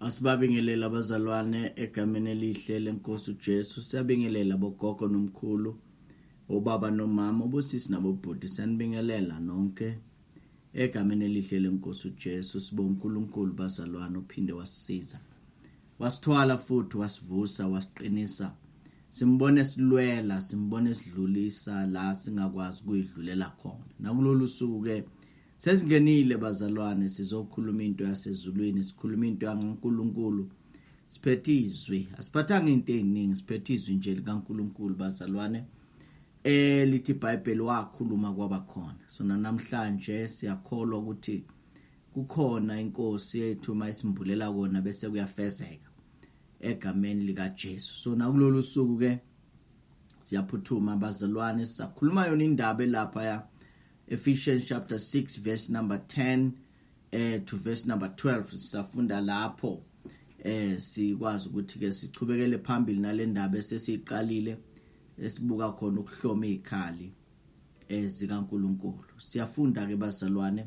Asibabingelele abazalwane egameni elihle lenkosi uJesu. Siyabingelela bogogo nomkhulu, obaba nomama, obusisi nabobhuti. Siyanibingelela nonke egameni elihle lenkosi uJesu. Sibonga uNkulunkulu bazalwane uphinde wasisiza. wasithwala futhi wasivusa wasiqinisa simbone silwela simbone sidlulisa la singakwazi ukuyidlulela khona nakulolu suku ke sesingenile bazalwane sizokhuluma into yasezulwini sikhuluma into yangaNkuluNkulu siphethe izwi asiphathanga into eziningi siphethe izwi nje likaNkuluNkulu bazalwane eh lithi iBhayibheli wakhuluma kwabakhona so namhlanje siyakholwa ukuthi kukhona inkosi yethu uma isimbulela kona bese kuyafezeka egameni likaJesu so nakulolu suku ke siyaphuthuma bazalwane sisakhuluma yona indaba elapha ya Ephesians chapter 6 verse number 10 eh to verse number 12 sisafunda lapho eh sikwazi ukuthi ke sichubekele phambili nalendaba esesiqalile esibuka khona ukuhloma izikhali ezikaNkuluNkulu eh, siyafunda ke bazalwane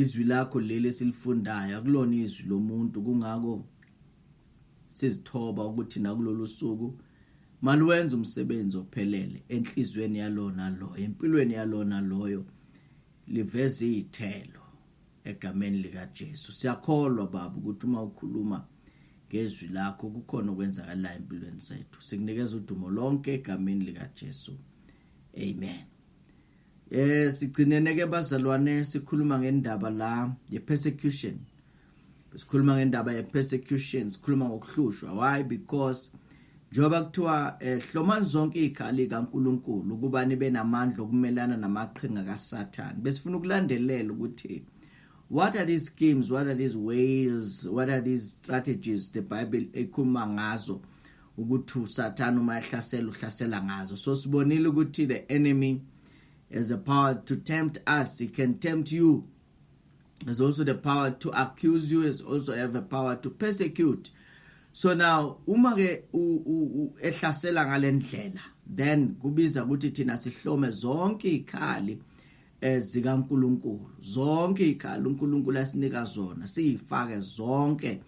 Izwi lakho leli esilifundayo akulona izwi lomuntu kungako sizithoba ukuthi nakulolu suku maluwenze umsebenzi ophelele enhliziyweni yalona loyo empilweni yalona loyo liveze izithelo egameni lika Jesu siyakholwa baba ukuthi uma ukhuluma ngezwi lakho kukhona okwenzakalayo empilweni zethu sikunikeza udumo lonke egameni lika Jesu amen Eh sigcinene ke bazalwane sikhuluma ngendaba la ye persecution. Sikhuluma ngendaba ye persecution, sikhuluma ngokuhlushwa. Why? Because njengoba kuthiwa eh hlomani zonke izikhali kaNkuluNkulu ukuba nibe namandla okumelana namaqhinga kaSathane. Besifuna ukulandelela ukuthi what are these schemes what are these ways what are these strategies the bible ekhuluma ngazo ukuthi usathane uma ehlasela uhlasela ngazo so sibonile ukuthi the enemy has the power to tempt us he can tempt you has also the power to accuse you has also have a power to persecute so now uma ke ehlasela ngalendlela then kubiza ukuthi thina sihlome zonke ikhali ezikaNkuluNkulu zonke ikhaya uNkuluNkulu asinika zona siyifake zonke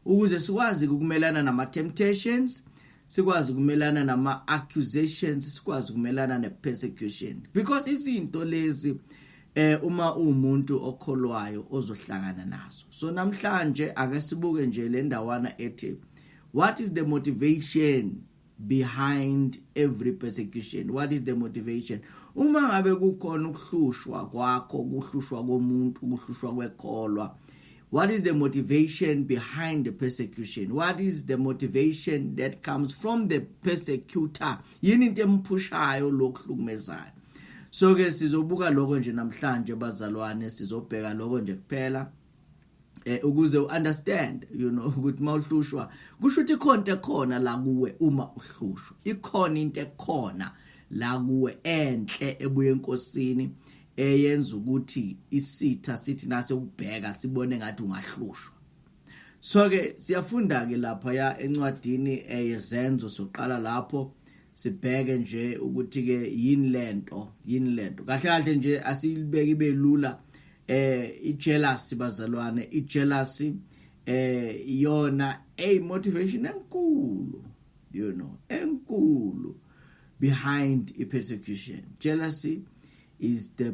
ukuze sikwazi ukumelana nama temptations sikwazi ukumelana nama accusations sikwazi ukumelana ne persecution because izinto lezi eh uma umuntu okholwayo ozohlangana nazo so namhlanje ake sibuke nje le ndawana ethi what is the motivation behind every persecution what is the motivation uma ngabe kukhona ukuhlushwa kwakho ukuhlushwa komuntu ukuhlushwa kwekholwa what is the motivation behind the persecution what is the motivation that comes from the persecutor yini into emphushayo lokuhlukumezayo so ke sizobuka lokho nje namhlanje bazalwane sizobheka lokho nje kuphela eh ukuze uunderstand you know ukuthi mawuhlushwa kusho ukuthi ikhonto ekhona la kuwe uma uhlushwa ikhona into ekhona la kuwe enhle ebuye enkosini eyenza ukuthi isitha sithi nase ubheka sibone ngathi ungahlushwa so ke siyafunda ke lapha ya encwadini eh, yezenzo soqala lapho sibheke nje ukuthi ke yini lento yini lento kahle kahle nje asiyibeki belula eh ijealousy bazalwane ijealousy eh iyona a motivation enkulu you know enkulu behind a persecution jealousy is the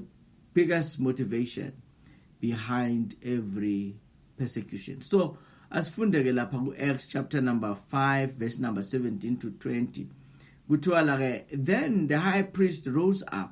biggest motivation behind every persecution so asifunde ke lapha ku Acts chapter number 5 verse number 17 to 20 kuthiwa la ke then the high priest rose up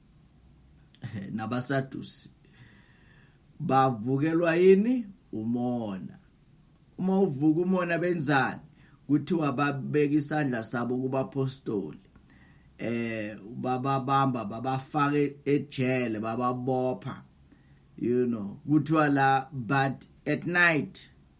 nabasadusi bavukelwa yini umona uma uvuka umona benzani kuthiwa babeka isandla sabo kubapostoli eh bababamba babafake ejele bababopha you know kuthiwa la but at night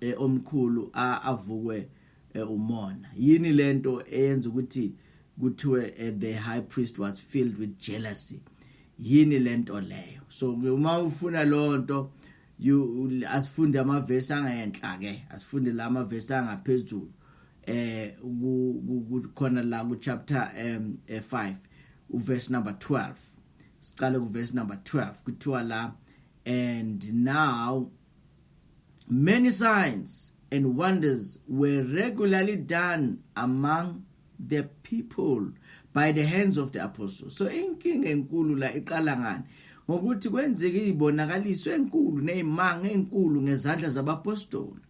eh, omkhulu avukwe eh, umona yini lento eyenza ukuthi kuthiwe eh, the high priest was filled with jealousy yini lento leyo so uma ufuna lonto you asifunde amavesi angenhla ke asifunde la amavesi angaphezulu eh kukhona la ku chapter um 5 uverse number 12 siqale ku verse number 12 kuthiwa la and now Many signs and wonders were regularly done among the people by the hands of the apostles so inkinga enkulu la iqala ngani ngokuthi kwenzeke izibonakaliso enkulu nezimanga enkulu ngezandla zabapostoli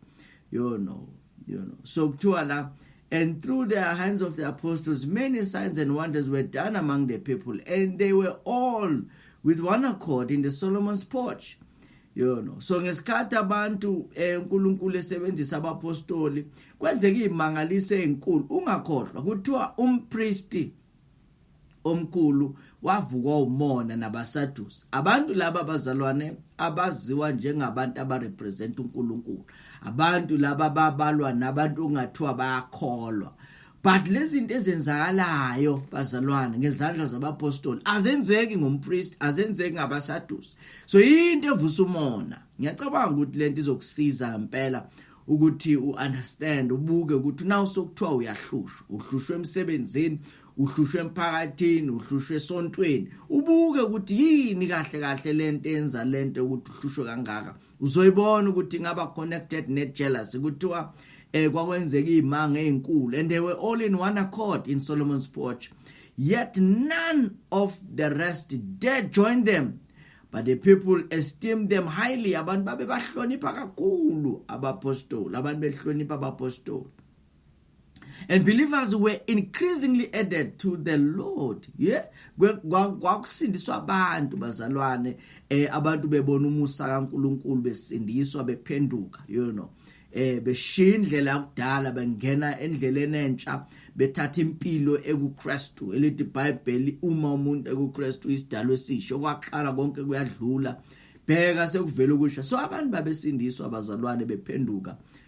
you know you know so kuthiwa la and through the hands of the apostles many signs and wonders were done among the people and they were all with one accord in the Solomon's porch you know so ngesikhathi abantu eh, uNkulunkulu esebenzisa abapostoli kwenzeka izimangaliso ezinkulu ungakhohlwa kuthiwa umpristi omkhulu wavukwa umona nabasadusi abantu laba bazalwane abaziwa njengabantu abarepresent uNkulunkulu abantu laba babalwa nabantu ongathiwa bayakholwa but lezinto ezenzakalayo bazalwane ngezandla zabapostoli azenzeki ngompriest azenzeki ngabasadusi so into evusa umona ngiyacabanga ukuthi lento izokusiza ngempela ukuthi uunderstand ubuke ukuthi nawu sokuthiwa uyahlushwa uhlushwe emsebenzini uhlushwe emphakathini uhlushwe esontweni ubuke ukuthi yini kahle kahle lento enza lento ukuthi uhlushwe kangaka uzoyibona ukuthi ingaba connected ne jealousy kuthiwa eh kwakwenzeka izimanga ezinkulu and they were all in one accord in Solomon's porch yet none of the rest dare join them but the people esteemed them highly abantu babe bahlonipha kakhulu abapostoli abantu behlonipha abapostoli and believers were increasingly added to the lord ye kwakusindiswa abantu bazalwane eh abantu bebona umusa kaNkuluNkulu besindiswa bephenduka you know eh beshiya indlela yakudala bengena endleleni entsha bethatha impilo ekuKristu elithi iBhayibheli uma umuntu ekuKristu isidalo esisho kwaqala konke kuyadlula bheka sekuvela ukusha so abantu babesindiswa abazalwane bephenduka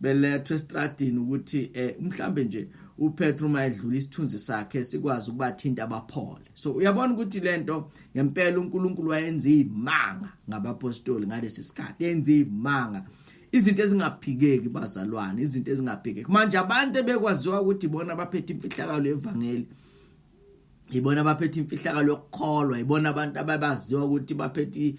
belethwe estradini ukuthi eh mhlambe nje uPetru uma edlula isithunzi sakhe sikwazi ukubathinta abaphole so uyabona ukuthi lento ngempela uNkulunkulu wayenza imanga ngabapostoli ngalesi sikhathi yenza imanga izinto ezingaphikeki bazalwane izinto ezingaphikeki manje abantu ebekwaziwa ukuthi bona baphethe imfihlakalo yevangeli ibona abaphethe imfihlakalo yokukholwa ibona abantu ababaziwa ukuthi baphethe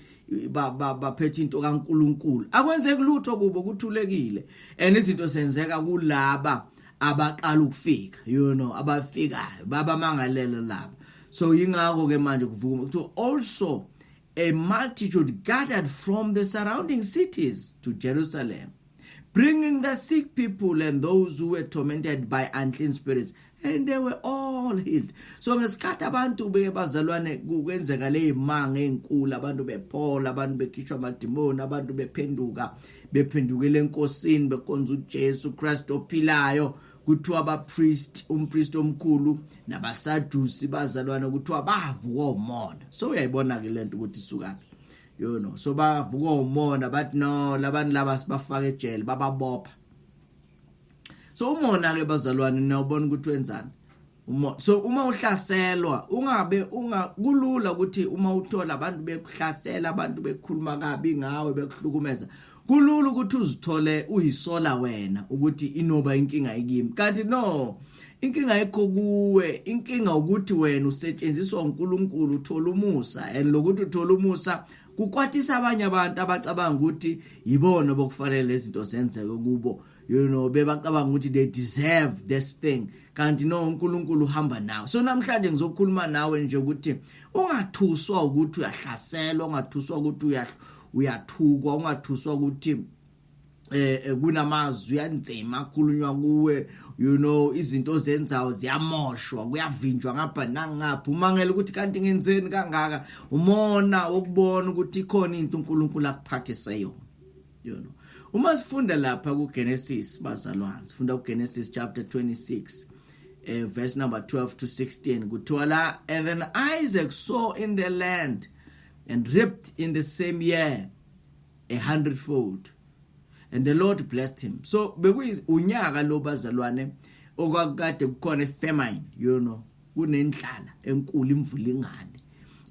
baphethe into kaNkuluNkulu akwenzeki lutho kubo kuthulekile and izinto senzeka kulaba abaqala ukufika you know abafikayo baba mangalela laba so yingakho ke manje kuvuma ukuthi also A multitude gathered from the surrounding cities to Jerusalem, bringing the sick people and those who were tormented by unclean spirits, and they were all healed. So ngesikhathi abantu beke bazalwane kwenzeka leyimanga ezinkulu, abantu bephola, abantu bekhishwa amadimoni, abantu bephenduka, bephendukele enkosini bekonza uJesu Kristu ophilayo. kuthiwa abapriest umpriest omkhulu nabasadusi bazalwana kuthiwa bavuka umona so uyayibona ke lento ukuthi sukaphi you know so bavuka umona bathi no labantu laba sibafaka ejele bababopha so umona ke bazalwane niyabona ukuthi wenzani uma so uma uhlaselwa ungabe unga kulula ukuthi uma uthola abantu bekuhlasela abantu bekhuluma kabi ngawe bekuhlukumeza kulula ukuthi uzithole uyisola wena ukuthi inoba inkinga ikimi kanti no inkinga ekho kuwe inkinga ukuthi wena usetshenziswa uNkulunkulu uthola umusa and lokuthi uthola umusa kukwatisa abanye abantu abacabanga ukuthi yibona bokufanele izinto zenzeke kubo you know bebacabanga ukuthi they deserve this thing kanti no uNkulunkulu uhamba nawe so namhlanje ngizokhuluma nawe nje ukuthi ungathuswa ukuthi uyahlaselwa ungathuswa ukuthi uyathukwa ungathuswa ukuthi eh, eh kunamazwi anzima akhulunywa kuwe you know izinto ozenzayo ziyamoshwa kuyavinjwa ngapha nangapha umangela ukuthi kanti ngenzeni kangaka umona wokubona ukuthi ikhona into uNkulunkulu akuphathise yona you know uma sifunda lapha ku Genesis bazalwane sifunda ku Genesis chapter 26 uh, eh, verse number 12 to 16 kuthiwa la and then Isaac saw in the land and reaped in the same year a hundredfold and the Lord blessed him so bekuyi unyaka lo bazalwane okwakade kukhona famine you know kunendlala enkulu imvula ingane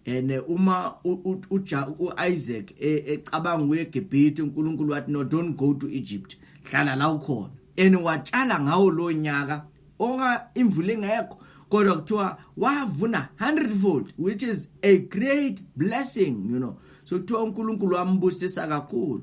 and eh, uma uIsaac e, ecabanga uye eGibhithe uNkulunkulu wathi no don't go to Egypt hlala la ukhona and watshala ngawo lo nyaka onga imvula ingekho kodwa kuthiwa wavuna 100 fold which is a great blessing you know so kuthiwa uNkulunkulu wambusisa kakhulu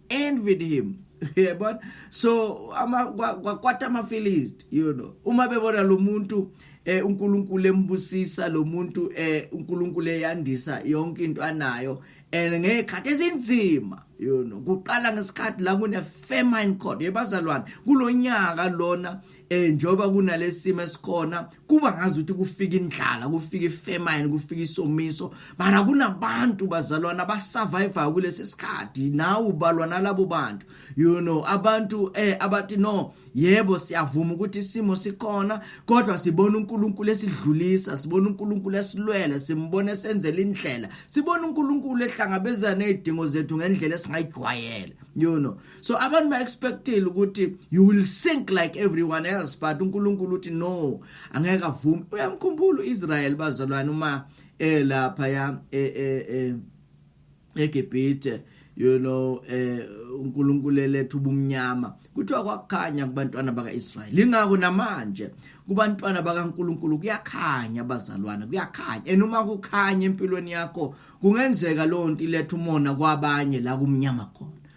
envied him yebona so ama kwakwata ama philist you know uma bebona lo muntu eh uNkulunkulu embusisa lo muntu eh uNkulunkulu eyandisa yonke into anayo and ngekhathi esinzima you know kuqala ngesikhathi la kune famine code yebazalwane kulonyaka lona eh njoba kunalesimo esikhona kuba ngazi ukuthi kufika indlala kufika ifemine kufika isomiso mara kunabantu bazalwana abasurvive kulesi sikhathi nawe ubalwa nalabo bantu you know abantu eh abathi no yebo siyavuma ukuthi isimo sikhona kodwa sibona uNkulunkulu esidlulisa sibona uNkulunkulu esilwele simbona esenzela indlela sibona uNkulunkulu ehlangabezana nezidingo zethu ngendlela esingayijwayela you know so abantu ba expectile ukuthi you will sink like everyone else but uNkulunkulu uthi no angeke avume uyamkhumbula uIsrael bazalwane uma elapha eh, ya e, e, e, eGibhithe you know eh uNkulunkulu elethu ubumnyama kuthiwa kwakukhanya kubantwana bakaIsrael ingakho namanje kubantwana bakaNkuluNkulu kuyakhanya abazalwana kuyakhanya enuma kukhanya empilweni yakho kungenzeka lonto iletha umona kwabanye la kumnyama khona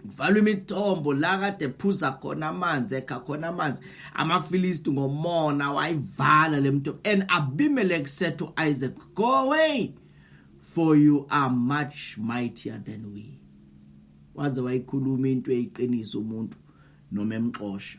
kuvalwa imithombo la kade phuza khona amanzi ekha khona amanzi amafilisti ngomona wayivala le mthombo and abimelek said to isaac go away for you are much mightier than we waze wayikhuluma into eyiqiniso umuntu noma emxosha